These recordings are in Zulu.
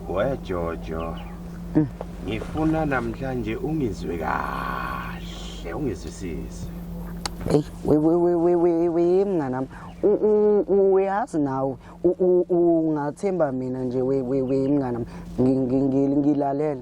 wejojo mm. ngifuna namhlanje ungizwe kahle ungizwisise eyi wewewewewewe mnganami uyazi nawe ungathemba mina nje we we we mngana ngilalele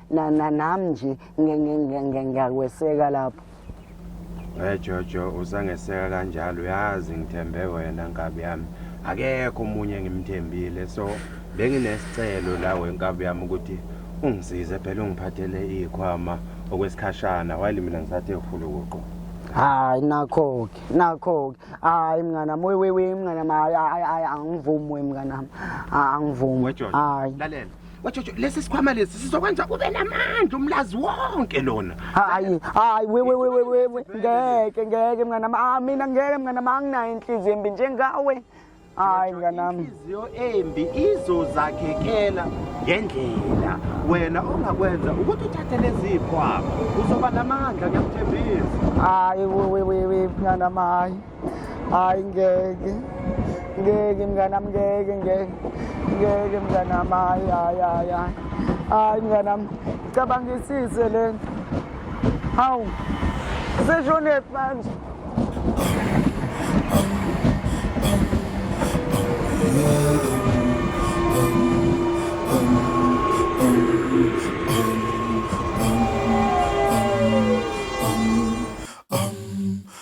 na na nami nje nge- nge- nge- nge- ngiyakweseka lapho we jojo usangeseka kanjalo uyazi ngithembe wena nkabi yami akekho omunye engimthembile so benginesicelo la wenkabi yami ukuthi ungisize phela ungiphathele iyikhwama okwesikhashana while mina ngisathe uhulukuqo hayi nakho-ke nakho-ke hayi mnganami wewewe mnganami hayi hayi hayi angivumi we mnganami Ah, angivumi we jojo hayi lalela wajojo lesi sikhwama lesi sizokwenza ube namandla umlazi wonke lona hayi hayi we we we we we we. ngeke ngeke mngane wami ah mina ngeke mngane wami anginayo inhliziyo embi njengawe hayi mngane wami inhliziyo embi izozakhekela ngendlela wena ongakwenza ukuthi uthathe lezipho apha uzoba namandla ngiyakuthembisa hayi we we we we mngane wami hayi hayi ngeke ngeke mnganam ngeke ngeke ngeke mnganam hayi hayi hayi hayi hayi mnganam cabangisise le nto hawu seshonephi manje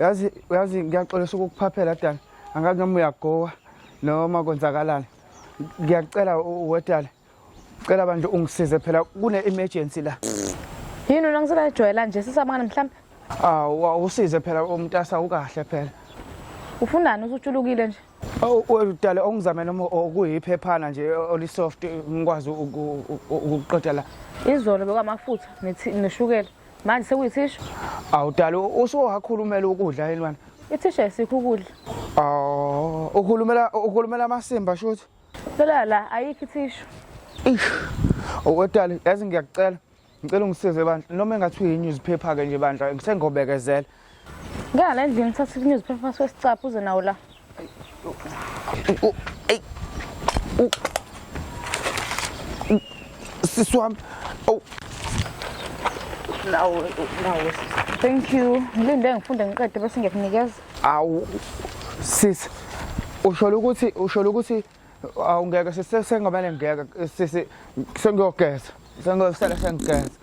yazi uyazi ngiyaxolisa ukukuphaphela dala angake noma uyagowa noma konzakalani ngiyacela wedala cela bandle ungisize phela kune-emergency la yini wena ngiselajwayela nje sisamane mhlawumbe awu awusize phela umntasa ukahle phela ufunani usutshulukile nje dale ongizame noma okuyiphephana nje olisoft ngikwazi ukuqeda la izolo bekwamafutha neshukela manje sekuyithisha awudala usuwakhulumela ukudla elwana ithisha esikho ukudla aw ukhulumela ukhulumela amasimba shuthi phela la ayikho ithisha ish owetali yazi ngiyakucela ngicela ungisize bandla noma engathi uyi-newspaper-ke nje bandla sengobekezela Ngala endlini thatha i-newspaper sesicapha uze nawo la. Ey. Sisi wami. Awu. Nawo nawo. Thank you. Ngilinde ngifunde ngiqede bese ngiyakunikeza. Awu. Sisi. Usholo ukuthi usholo ukuthi awungeke sisengabane ngeke sisi sengiyogeza. Sengiyosala sengigeza.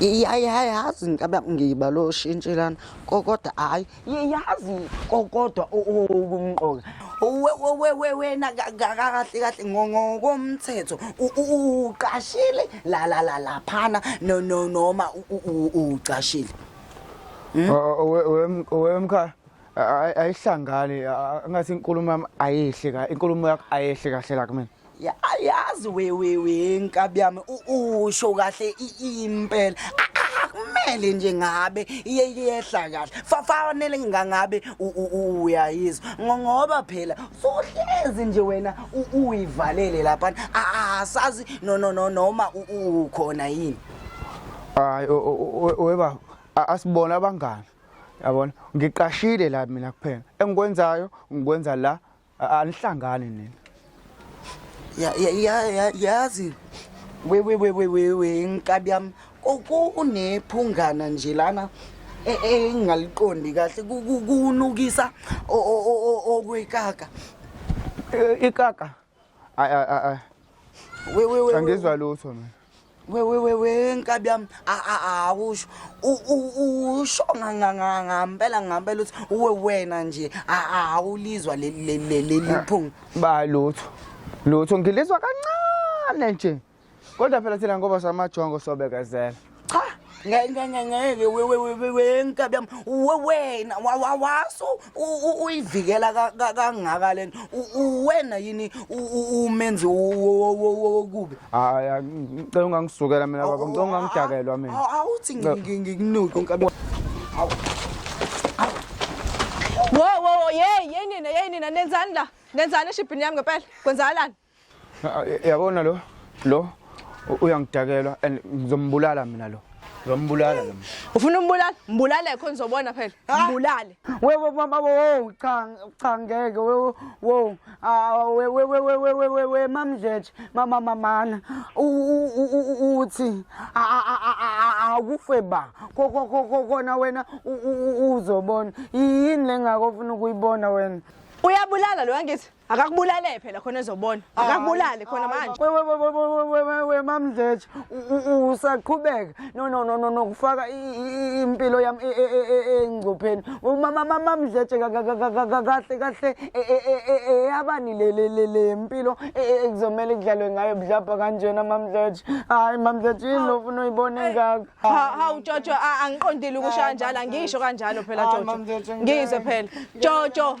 yayazi nkabe ngiba lo shintshelana kokodwa hayi yazi kokodwa okumqoka wena kahle kahle ngokomthetho uqashile la la la laphana no no noma ucashile hmm? wemkhaya ayihlangani ngathi inkulumo yami ayihle ka inkulumo yakho ayehle kahle la kumina yazi wewewe nkabi yami usho kahle impela kumele nje ngabe iye iyehla kahle fafanele ngangabe uyayizwa ngoba phela sohlezi nje wena uyivalele lapha asazi no no no noma ukhona yini hayi webaba asibona abangani yabona ngiqashile la mina kuphela engikwenzayo ngikwenza la anihlangani nina yazi wewewewewewe nkabi yami kunephungana nje lana e, e, engingaliqondi kahle kunukisa okwekaka e, ikaka Ay ay ay. We we we. Angizwa lutho mina. We we we we nkabi yami awusho usho ngampela ngampela uthi uwe wena nje awulizwa leli phunga. Ba lutho. Lutho ngilizwa kancane nje. kodwa phela thina ngoba samajongo sobekezela cha ngeke wenkabi yami wena wawaso uyivikela kangaka lena uwena yini umenzi wokubi hayi ngicela ungangisukela mina baba ngicela ungangidakelwa mina awuthi ngikunuke nkabi wo wo yey yey nina yey nina nenzani la nenzani eshibhini yami ngempela kwenzakalani Ah, yabona lo lo uyangidakelwa and ngizombulala mina lo ngizombulala lo ufuna umbulala mbulale khona uzobona phela ah. mbulale wewe mama wo cha cha ngeke wewe wo wewe wewe wewe wewe mamjeje mama mamana uthi akufe ba kona wena uzobona yini lengakofuna ukuyibona wena uyabulala lo angithi akakubulale phela khona ezobona akakubulale khona manje wewewewewewewe mamdletshe usaqhubeka no no no no nokufaka impilo yami engcupheni mamamamamdletshe kahle kahle eyabani le mpilo ekuzomele kudlalwe ngayo budlabha kanjena mamdletshe hayi mamdletshe yini lo funa uyibone engaka hawu jojo angiqondile ukusho kanjalo angisho kanjalo phela jojo ngizwe phela jojo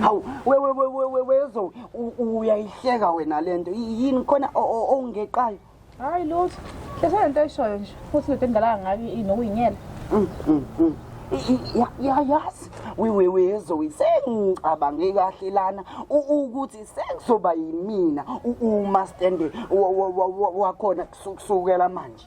hawu wewewewewezo uyayihleka wena le nto yini khona ongeqayo hayi lutho hlesana nto ayishoyo nje futhi lento endala ngayo inokuyinyela mm, mm, mm. yayazi wewewezoyi sengicabange kahle lana ukuthi sekuzoba yimina uma stande wakhona kusukela manje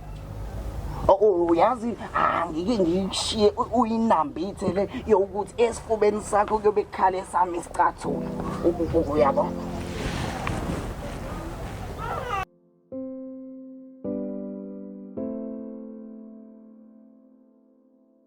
uyazi angike ngikushiye uyinambithele yokuthi esifubeni sakho kuyobe kukhale sami isicathulo uyabo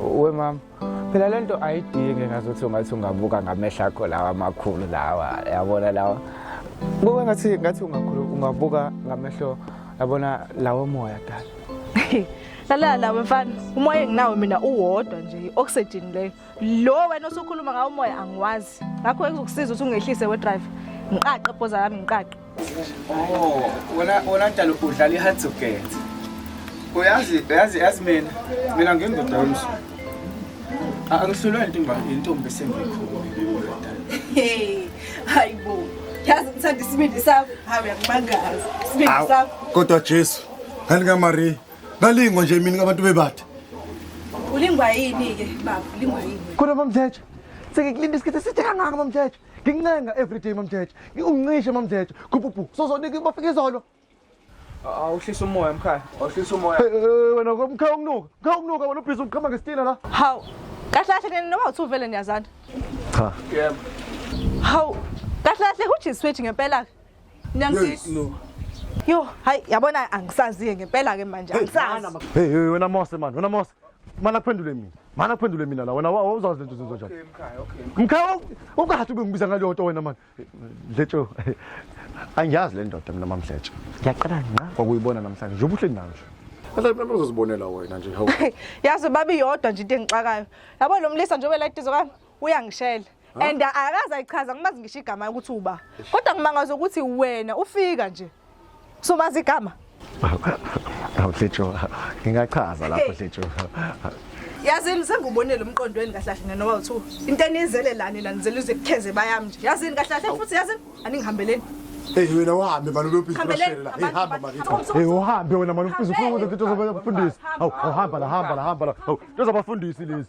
we mama phela le nto ayidingi ngazuthi ungathi ungabuka ngamehla akho lawa amakhulu lawa yabona lawa kuke ngathi ngathi ungakhulu ungabuka ngamehlo yabona lawo moya dala lalala lawe mfana umoya enginawo mina uwodwa nje i-oxygen leyo lo wena osukhuluma ngawo umoya angiwazi ngakho ekuzokusiza ukuthi ungehlise wedrive ngiqaqe bhoza yami ngiqaqe Oh, wena wena njalo udlala i-hard to get. Uyazi uyazi yazi mina mina ngindoda yomsu. Angihlulwe intombi intombi sengikhulu. Hey, hayibo. Yazi ngithanda isibindi sakho. Hayi uyakumangaza. Isibindi Awu, sakho. Kodwa Jesu, ngani kaMaria, ngalingwa nje mina ngabantu bebathe. Ulingwa yini ke baba? Ulingwa yini? Kodwa mamthetho, sengikulinda isikhathi eside kangaka mamthetho. ngincenga everyday mamjeje uncishe mamjeje gububu sozonika bafika izolo awuhlisa umoya mkhaya awuhlisa umoya Eh, eh, wena mkhaya ukunuka mkhaya ukunuka wena ubhizi uqhama ngesitina la hawu kahle kahle kuyena noma uthi uvele niyazana cha yebo hawu kahle kahle kujiswethu ngempela-ke niyangisiza no yo hayi yabona angisaziye ngempela-ke manje angisazi hey hey, wena mose mani wena mose mana kuphendule mina mana kuphendule mina la wena wawuzazi lento zenziwa njani mkhaya ungathi ube ngibiza ngaleyo nto wena mani dletsho angiyazi le ndoda mina mamdletsho ngiyaqala nqa kwakuyibona namhlanje njengoba uhleli nayo nje Mhlawumbe uzozibonela wena nje hawu. Yazi babi yodwa nje into engixakayo. Yabo lo mlisa njengoba la idizo kami uyangishela. and akaze ayichaza ngimazi ngisho igama ukuthi uba kodwa ngimangaza ukuthi wena ufika nje somazi igama awuhletsho ngingachaza lapho hletsho yazini sengubonile umqondo weni kahlahle ngene noba uthu into enizele lani la nizele uze kukheze bayami nje yazini kahlahle futhi yazini aningihambeleni Hey wena uhambe manje uyophisa ubashela. Hey hamba manje. Hey uhambe wena manje uphisa ukhuluma ukuthi uzobafundisa. Hawu uhamba la hamba la hamba la. Hawu uzobafundisa lezi.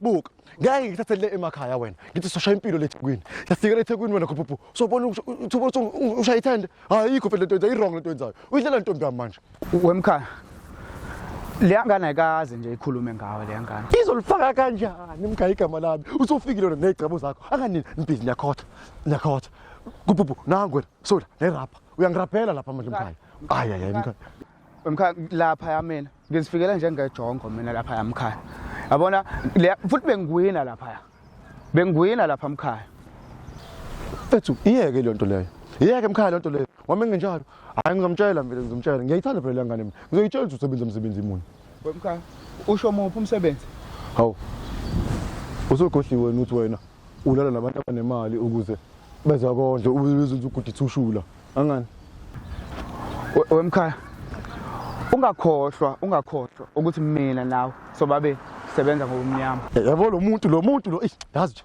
buka ngeke ngikuthathe le emakhaya wena ngithi soshaya impilo le thekwini siyafika le thekwini wena khuphupu sobona ushaya ithende ayikho phela lento yenzayo i-wrong lento yenzayo uyidlela ntombi yami manje wemkhaya leya ngane ayikaze nje ikhulume ngawe leya ngane izolifaka kanjani mkhaya igama lami usufikile wena nezicebo zakho anganini nibhizi niyakhotha niyakhotha kupupu nangu wena sola nerabha uyangirabhela lapha manje mkhaya ayi ayi mkhaya wemkhaya lapha yamina ngizifikela njengejongo mina lapha yamkhaya yabona futhi bengiwina lapha bengiwina lapha mkhaya ethu iyeke le nto leyo iyeke mkhaya le nto leyo wami nginjalo hayi ngizomtshela mina ngizomtshela ngiyayithanda phela ngane mina ngizoyitshela ukuthi usebenza umsebenzi imuni wemkhaya usho muphi umsebenzi hawu usugohliwe wena uthi wena ulala nabantu abanemali ukuze bezakondle ubezothi uguditha ushula angani wemkhaya ungakhohlwa ungakhohlwa ukuthi mina nawe sobabili sebenza ngokumnyama yabo lo muntu lo muntu lo yazi nje